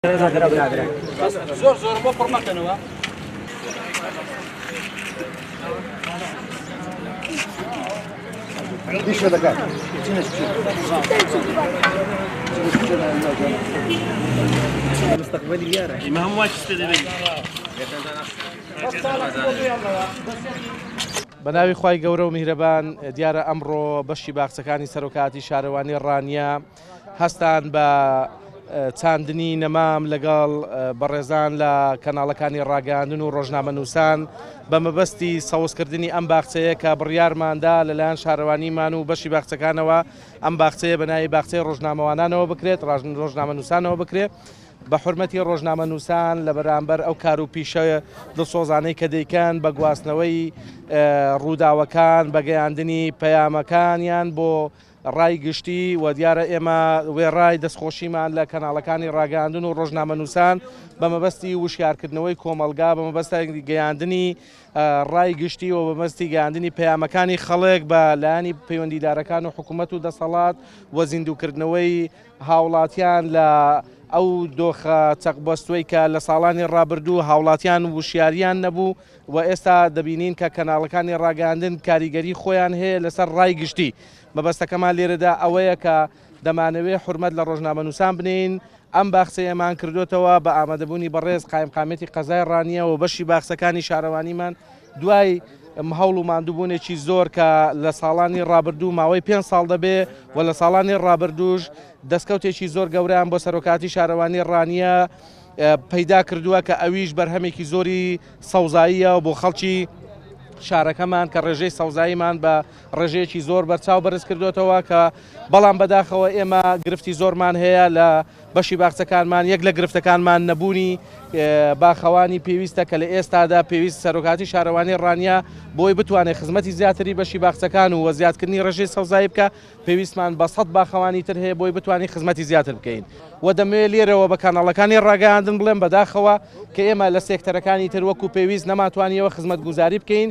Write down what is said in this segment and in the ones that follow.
زۆر زۆر بۆ پڕ مەکەنەوە دیشە دەکات مستقبلی یارە ئیمە هەم واچ پێ دەبێت بە ناوی خی گەورە و میهرەبان دیارە ئەمڕۆ بەشی باخچەکانی سەرۆکاتی شارەوانی ڕانیە هەستان بە چاندنی نەمام لەگەڵ بەڕێزان لە کەناڵەکانی ڕاگەاندن و ڕۆژنامەنووسان بە مەبەستی سەوزکردنی ئەم باخچەیە کە بڕیارماندا لەلایەن شارەوانیمان و بەشی باخچەکانەوە ئەم باخچەیە بەناوی باخچەی ڕۆژنامەوانانەوە بکرێت ڕژن ڕۆژنامەنووسانەوە بکرێت. بە حرمەتی ڕۆژنامە نووسان لە بەرامبەر ئەو کار و پیشە دڵسۆزانەی کە دەیکەن بە گواستنەوەی ڕووداوەکان بەگەیاندنی پەیامەکانیان بۆ ڕای گشتی، وە دیارە ئێمە وێڕای دەستخۆشیمان لە کەناڵەکانی ڕاگەیاندن و ڕۆژنامەنووسان بە مەبەستی وشیارکردنەوەی کۆمەڵگا بە مەبەستی گەیاندنی ڕای گشتی و بە مەبەستی گەیاندنی پەیامەکانی خەڵک بە لایەنی پەیوەندیدارەکان و حکوومەت و دەسەڵات و زیندووکردنەوەی هاوڵاتیان لە ئەو دۆخە چەقبەستووەی کە لە ساڵانی ڕابردوو هاوڵاتیان وشیاریان نەبوو و ئێستا دەبینین کە کەناڵەکانی ڕاگەیاندن کاریگەری خۆیان هەیە لەسەر ڕای گشتی. مەبەستەکەمان لێرەدا ئەوەیە کە دەمانەوێ حورمەت لە ڕۆژنامەنووسان بنێین، ئەم باخچەیەمان کردۆتەوە بە ئامادەبوونی بەڕێز قایمقامیەتی قەزای ڕانیە و بەشی باخچەکانی شارەوانیمان دوای هەوڵ و ماندووبوونێکی زۆر کە لە ساڵانی ڕابردوو ماوەی پێنج ساڵ دەبێ و لە ساڵانی ڕابردووش دەستکەوتێکی زۆر گەوریان بۆ سەرۆکاتی شارەوانی ڕانیە پەیدا کردووە کە ئەویش بەرهەمێکی زۆری سەوزاییە بۆ خەڵکی شارەکەمان کە ڕێژەی سەوزاییمان بە ڕێژەیەکی زۆر بەرچاو بەرزکردۆتەوە کە بەڵام بەداخەوە ئێمە گرفتی زۆرمان هەیە لە بەشی باخچەکانمان یەک لە گرفتەکانمان نەبوونی باخەوانی پێویستە کە لە ئێستادا پێویست سەرۆکاتی شارەوانی ڕانیا بۆی بتوانێت خزمەتی زیاتری بەشی باخچەکان و وەزیادکردنی ڕێژەی سەوزایی بکە پێویستمان بە سەد باخەوانی تر هەیە بۆی بتوانین خزمەتی زیاتر بکەین و دەمەوێت لێرەوە بە کاناڵەکانی ڕاگەیاندن بڵێن بەداخەوە کە ئێمە لە سێکتەرەکانی تر وەکو پێویست نەماتوانیەوە خزمەت گوزاری بکەین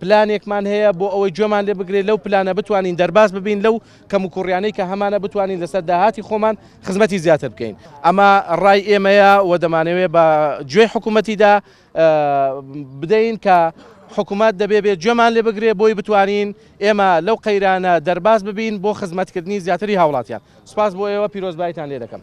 پلانێکمان هەیە بۆ ئەوەی گوێمان لێ بگرێت، لەو پلانە بتوانین دەرباز ببین لەو کەموکوڕیانەی کە هەمانە بتوانین لەسەر داهاتی خۆمان خزمەتی زیاتر بکەین. ئەمە ڕای ئێمەیە و دەمانەوێت بە گوێی حکومەتیدا بدەین کە حکومەت دەبێ بێت گوێمان لێ بگرێت بۆی بتوانین ئێمە لەو قەیرانە دەرباز ببین بۆ خزمەتکردنی زیاتری هاوڵاتیان. سپاس بۆ ئێوە پیرۆزبایتان لێ دەکەم.